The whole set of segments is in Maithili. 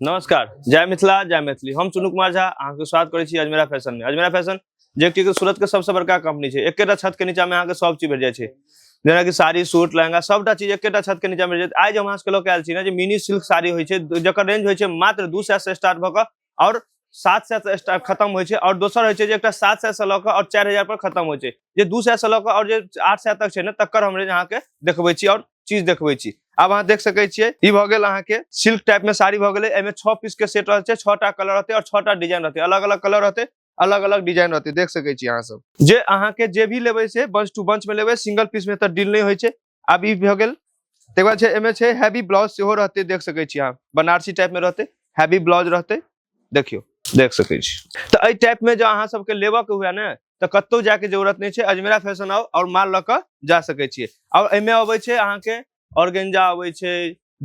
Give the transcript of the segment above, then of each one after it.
नमस्कार जय मिथिला जय मैथिली हम चुनू कुमार झा अहाँके स्वागत करै छी अजमेरा फैशन में अजमेरा फैशन जे कि सूरत के सबसे बड़का कंपनी छै एकेटा छत के नीचा में अहाँके सब चीज भेट जाइ छै जेना कि साड़ी सूट लहंगा सबटा चीज एकेटा छत के नीचा में भेट जायत आइ जे हम अहाँ सबके लऽ के आयल छी ने जे मिनी सिल्क साड़ी होइ छै जकर रेंज होइ छै मात्र दू सए से स्टार्ट भऽ कऽ आओर सात सए से स्टार्ट खत्म होइ छै आओर दोसर होइ छै जे एकटा सात सए से लऽ कऽ आओर चारि हजार पर खत्म होइ छै जे दू सए से लऽ कऽ आओर जे आठ सए तक छै ने तकर हम रेंज अहाँके देखबै छी आओर चीज देखबै छी आब अहाँ देख सकै छियै ई भऽ गेल अहाँके सिल्क टाइप में साड़ी भऽ गेलै एहिमे छओ पीस के सेट रहै छै छओ टा कलर रहतै आओर छओ टा डिजाइन रहतै अलग अलग कलर रहतै अलग अलग डिजाइन रहतै देख सकै छी अहाँ सब जे अहाँके जे भी लेबै से बंच टू बंच में लेबै सिंगल पीस में तऽ डील नहि होइ छै आब ई भऽ गेल तकर बाद छै एहिमे छै हैवी ब्लाउज सेहो रहतै देख सकै छी अहाँ बनारसी टाइपमे रहतै हैवी ब्लाउज रहतै देखियौ देख सकै छी तऽ एहि टाइपमे जँ अहाँ सभके लेबऽके हुए ने तऽ कतहु जायके जरूरत नहि छै अजमेरा फैशन आउ आओर माल लऽ कऽ जा सकै छियै आओर एहिमे अबै छै अहाँके ऑर्गेंजा अबै छै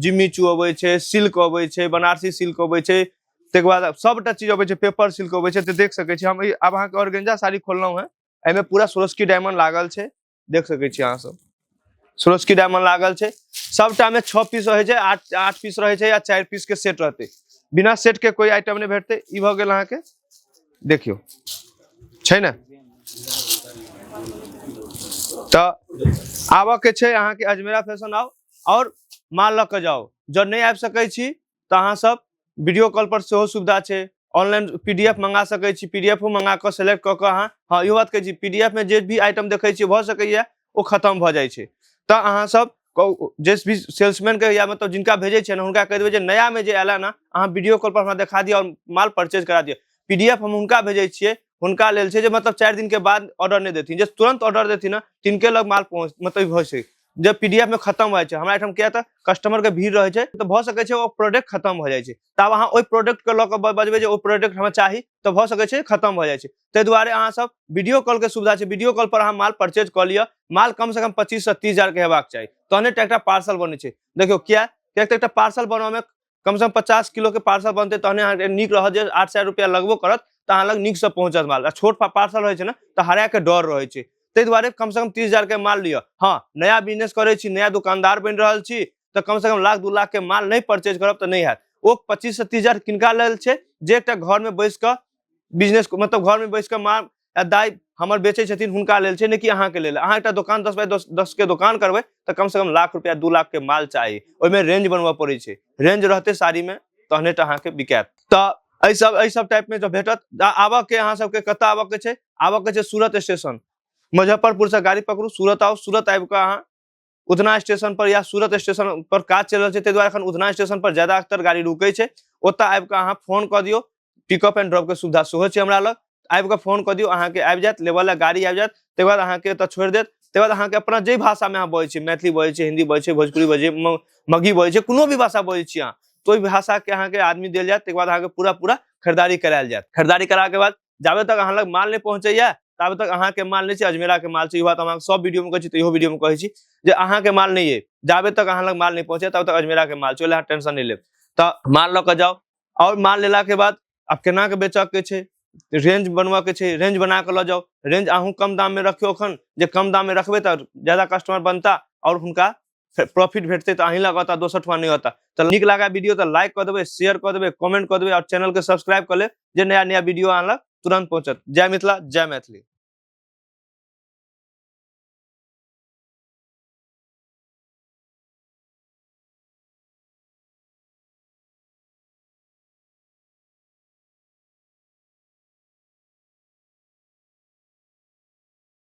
जिम्मीचू अबै छै सिल्क अबै छै बनारसी सिल्क अबै छै ताहिके बाद सभटा चीज अबै छै पेपर सिल्क अबै छै तऽ देख सकै छी हम ई- आब अहाँके ऑर्गेंजा साड़ी खोललहुँ हेँ एहिमे पूरा सोरस्की डायमंड लागल छै देख सकै छी अहाँ सब सुरस्की डायमंड लागल छै सबटा में छः पीस रहे छै आठ आठ पीस रहे छै या चार पीस के सेट रहते बिना सेट के कोई आइटम नहीं भेटते ई भऽ गेल अहाँके देखियो छै ने तऽ आबऽ के छै अहाँके अजमेरा फैशन आओ और माल लऽ के जाओ जब नहीं आबि सकै छी तऽ अहाँ सब वीडियो कॉल पर सेहो सुविधा छै ऑनलाइन पी डी एफ मंगा सकैत छी पी डी एफो मंगा कऽ सेलेक्ट कऽ कऽ अहाँ हँ इहो बात कहै छी पी डी एफ मे जे भी आइटम देखै छियै भऽ सकैया ओ खतम भऽ जाइ छै तऽ अहाँ सब कौ- जे भी सेल्समैन के या मतलब जिनका भेजै छियै ने हुनका कहि देबै जे नया मे जे आयल ने अहाँ वीडियो कॉल पर हमरा देखा दिअ और माल परचेज करा दिअ पी डी एफ हम हुनका भेजै छियै हुनका लेल छै जे मतलब चारि दिन के बाद ऑर्डर नहि देथिन जे तुरंत ऑर्डर देथिन ने तिनके लग माल पहुँच मतलब होइ छै जे पीडीएफ में खत्म हो जाए हमरा एठाम किया तऽ कस्टमर के भीड़ रहे छै तो भ सके छै ओ प्रोडक्ट खत्म हो जाए छै तब अहाँ ओहि प्रोडक्ट के लऽ कऽ बजबै जे ओ प्रोडक्ट हमरा चाही तऽ भ सके छै खत्म हो जाए छै ताहि दुआरे अहाँ सब वीडियो कॉल के सुविधा छै वीडियो कॉल पर अहाँ माल परचेज कऽ लिअ माल कम से कम पच्चीस से तीस हजार के हेबाक चाही तहने एकटा पार्सल बने छै देखियो किया किया एकटा पार्सल बनबऽ में कम से कम पचास किलो के पार्सल बनते तहने अहाँके नीक रहत जे आठ सए रुपैआ लगबो करत तऽ अहाँ लग नीकसँ पहुँचत माल आ छोट पा- पार्सल रहै छै ने तऽ हरायके डर रहै छै ताहि दुआरे कम से कम तीस हजार के माल लिअ हँ नया बिजनेस करै छी नया दुकानदार बनि रहल छी तऽ कम से कम लाख दू लाख के माल नहि परचेज करब तऽ नहि हैत ओ पच्चीस से तीस हजार किनका लेल छै जे एकटा घर में बैस कऽ बिजनेस मतलब घर में बैस कऽ माल आ दाइ हमर बेचै छथिन हुनका लेल छै ने कि अहाँके लेल अहाँ एकटा दोकान दस बाय दस दसके दोकान करबै तऽ कमसँ कम लाख रुपैआ दू लाखके माल चाही ओहिमे रेंज बनबऽ पड़ै छै रेंज रहतै साड़ीमे तहने टा अहाँके बिकायत तऽ एहि सब एहि सब टाइपमे जब भेटत तऽ आबऽके अहाँ सबके कतऽ आबऽके छै आबऽके छै सूरत स्टेशन मुजफ्फरपुरसँ गाड़ी पकड़ू सूरत आउ सूरत आबि कऽ अहाँ उधना स्टेशन पर या सूरत स्टेशन पर काज चल रहा है दुआरे अखन उधना स्टेशन पर ज्यादा अक्तर गाड़ी रुके छै ओत आबि कऽ अहाँ फोन कऽ दियौ पिकअप एंड ड्रॉप के सुविधा सेहो छै हमरा लग आबि कऽ फोन कऽ दियौ अहाँके आबि जायत लेबऽ लए गाड़ी आबि जायत ताहि बाद अहाँके एतऽ छोड़ि देत ताहि बाद अहाँके अपना जे भाषामे अहाँ बजै छी मैथिली बजै छी हिन्दी बजै छी भोजपुरी बजै म- मगही बजै छी कोनो भी भाषा बजै छी अहाँ तऽ ओहि भाषाके अहाँके आदमी देल जायत ताहिके बाद अहाँके पूरा पूरा खरीदारी करायल जायत खरीदारी कराके बाद जाबे तक अहाँ लग माल नहीं पहुंचे तब तक अहाँ के माल नहीं छै अजमेरा के माल छै बात हम सब वीडियो में कहे छी तो वीडियो में कहे छी जे अहाँ के माल नहीं है जाबे तक अहाँ लग माल नहीं पहुंचे तब तक अजमेरा के माल छै टेंशन नहीं लेब तो माल लऽ जाओ और माल लेला के बाद अब केना के बेचऽ के छै रेंज बनवा के छै रेंज बना के लऽ जाओ रेंज अहूँ कम दाम में रखियो अखन जे कम दाम में रखबे तो ज्यादा कस्टमर बनता और हुनका प्रॉफिट भेटते तो अहीं लग होता दोसर ठुआ नहीं होता तो निक लगा वीडियो तो लाइक कर देवे शेयर कर देवे कमेंट कर देवे और चैनल के सब्सक्राइब कर ले जे नया नया वीडियो आनल तुरंत पहुंचत जय मिथिला जय मैथिली